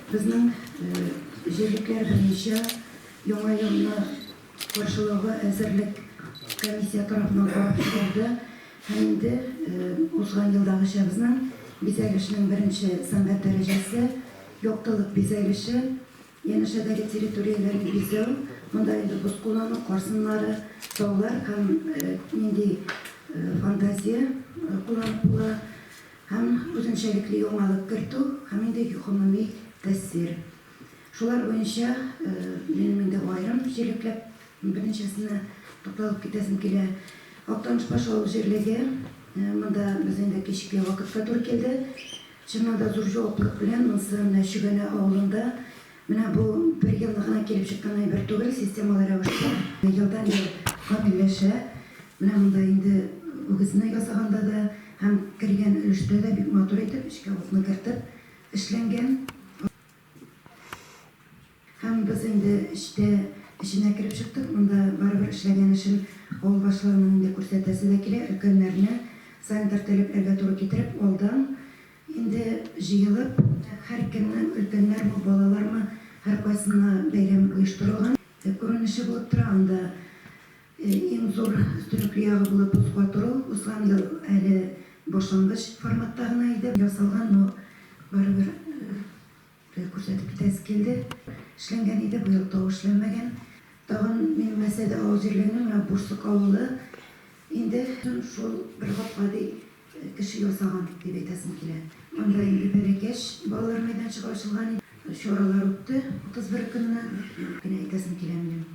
Безнең җирлекләр буенча Яңа елны каршылауга әзерлек комиссия тарафыннан карап чыгылды һәм инде узган елдагыча безнең бизәлешнең беренче сәнгать дәрәҗәсе, яктылык бизәлеше, янәшәдәге территорияләрне бизәү, монда инде боз куллану, кар сыннары, таулар һәм нинди фантазия кулланып була, һәм үзенчәлекле яңалык кертү һәм инде гомуми тәэсир. Шулар буенча минем инде аерым җирлекләп берничәсенә тукталып китәсем килә. Актаныш баш авыл җирлеге, монда без инде кичке вакытка туры килде. Чыннан да зур җаваплылык белән монсы менә Чөгәнә авылында Менә бу бер елны гына килеп чыккан әйбер түгел, системалы рәвештә елдан-ел камилләшә. Менә монда инде үгезне ясаганда да һәм кергән өлештә дә бик матур итеп эчкә утны кертеп эшләнгән. Һәм без инде эчтә эченә кереп чыктык, монда барыбер эшләгән эшен авыл башларының инде күрсәтәсе дә килә, өлкәннәрне санитар таләпләргә туры китереп алдан Инде җыелып, һәркемнең, өлкәннәрме, балалармы, һәркайсына бәйрәм оештырылган күренеше булып тора. Анда иң зур өстенлекле ягы булып боз катыру узган ел әле башлангыч форматта гына иде ясалган, но барыбер Гел күрсәтеп китәсе килде. Эшләнгән иде, быел тау эшләнмәгән. Тагын минем Мәсәдә авыл җирлегенең менә Бурсык авылы инде шул бер гап гади кеше ясаган дип әйтәсем килә. Анда инде бәләкәч балалар мәйданчыгы ачылган иде. Чаралар үтте 31 көнне. Генә әйтәсем килә минем.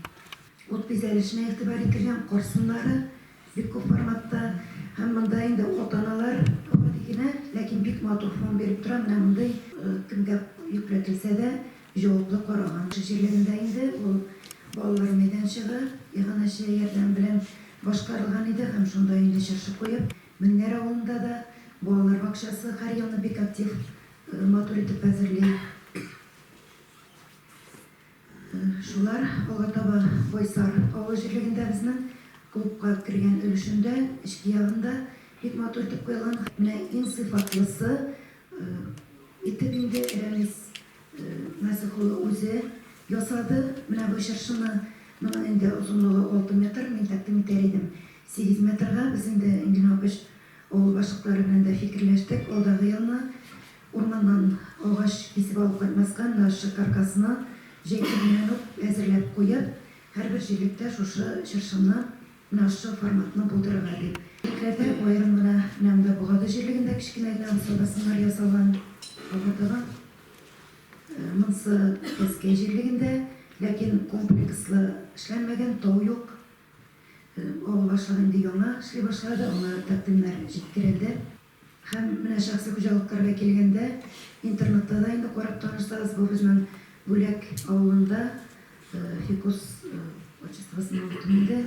Ут бизәлешенә игътибар ителгән, кар сыннары. Бик күп форматта һәм монда инде уколтаналар гади генә, ләкин бик матур фон биреп тора, менә мондый. Кемгә йөкләтелсә дә, җаваплы караган. Җирлегендә инде ул балалар мәйданчыгы иганәче ярдәме белән башкарылган иде һәм шунда инде чыршы куеп, Меңнәр авылында да балалар бакчасы һәр елны бик актив, матур итеп әзерли. Шулар алга таба Байсар авыл җирлегендә безнең клубка кергән өлешендә, эчке ягында бик матур итеп куелган. Менә иң сыйфатлысы итеп инде Рәмис Насыйх улы үзе ясады. Менә бу чыршыны, моның инде озынлыгы алты метр, мин тәкъдим итәр идем сигез метрга. Без инде Энгель Мапыч авыл башлыклары белән дә фикерләштек, алдагы елны Урманнан агач кисеп алып кайтмаска, нарчык каркасына җәйгәннән үк әзерләп куеп, һәрбер җирлектә шушы чыршымны, нарчы форматны булдырырга дип. Битләрдә аерым гына Нәмдә Богады җирлегендә кечкенә генә усал басымнар ясалган, алга таба монсы Тәскәй җирлегендә, ләкин комплекслы эшләнмәгән, тау юк. Авыл башлыгы инде яңа эшли башлады, аңа тәкъдимнәр җиткерелде. Һәм менә шәхси хуҗалыкларга килгәндә, интернетта да инде карап танышсагыз, бу безнең Бүләк авылында Фикус отчествосының тумыйды.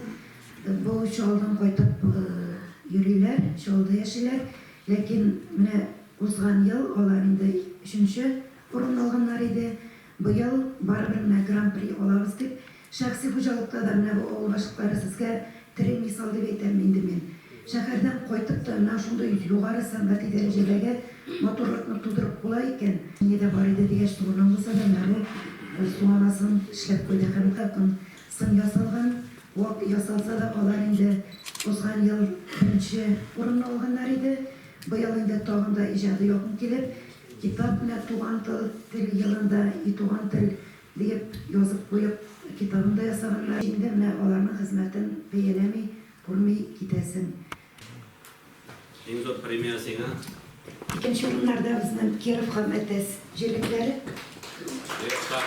Бу Чаллыдан кайтып йөриләр, Чаллыда яшиләр. Ләкин менә узган ел алар инде өченче урынны алганнар иде. Быел барыбер менә Гран-при алабыз дип, Шәхси хуҗалыкта да менә бу авыл гашыклары сезгә тере мисал дип әйтәм инде мин. Шәһәрдән кайтып та менә шундый югары сәнгати дәрәҗәдәге матурлыкны тудырып була икән. Мине дә бар иде дигәч турыдан булса да менә бу су анасын эшләп куйды һәм икъакын сын ясалган, вак ясалса да алар инде узган ел беренче урынны алганнар иде. Быел инде тагын да иҗади якын килеп, китап менә туган тыл тел елында и туган тел Диеп язып куеп, китабын да ясаганнар. Инде менә аларның хезмәтен бәяләми, күрми китәсең. Иң зур премия сиңа. Икенче урыннарда безнең Киров һәм Әтәс җирлекләре. Кировка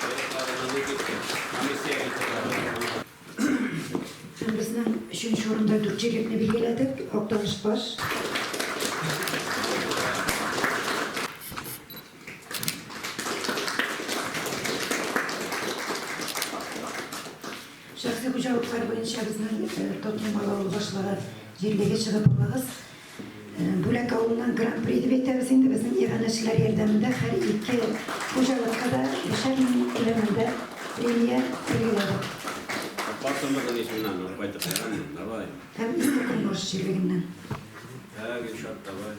Кировка гына ни дип комиссия китерәбез. Һәм безнең өченче урында дүрт җирлекне билгеләдек, Актаныш баш. Шәхси хуҗалыклар буенча безнең э, Тотнем авылы башлыгы җирлеге чыгып алыгыз. Э, Бүләк авылыннан гран-при дип әйтәбез инде безнең иганәчеләр ярдәмендә һәр ике хуҗалыкка да бишәр мең күләмендә премия билгеләдек. Патшалыгын исеннән кайтып, давай. Һәм иске Кунбаш җирлегеннән. Ә, Гөлшат, давай.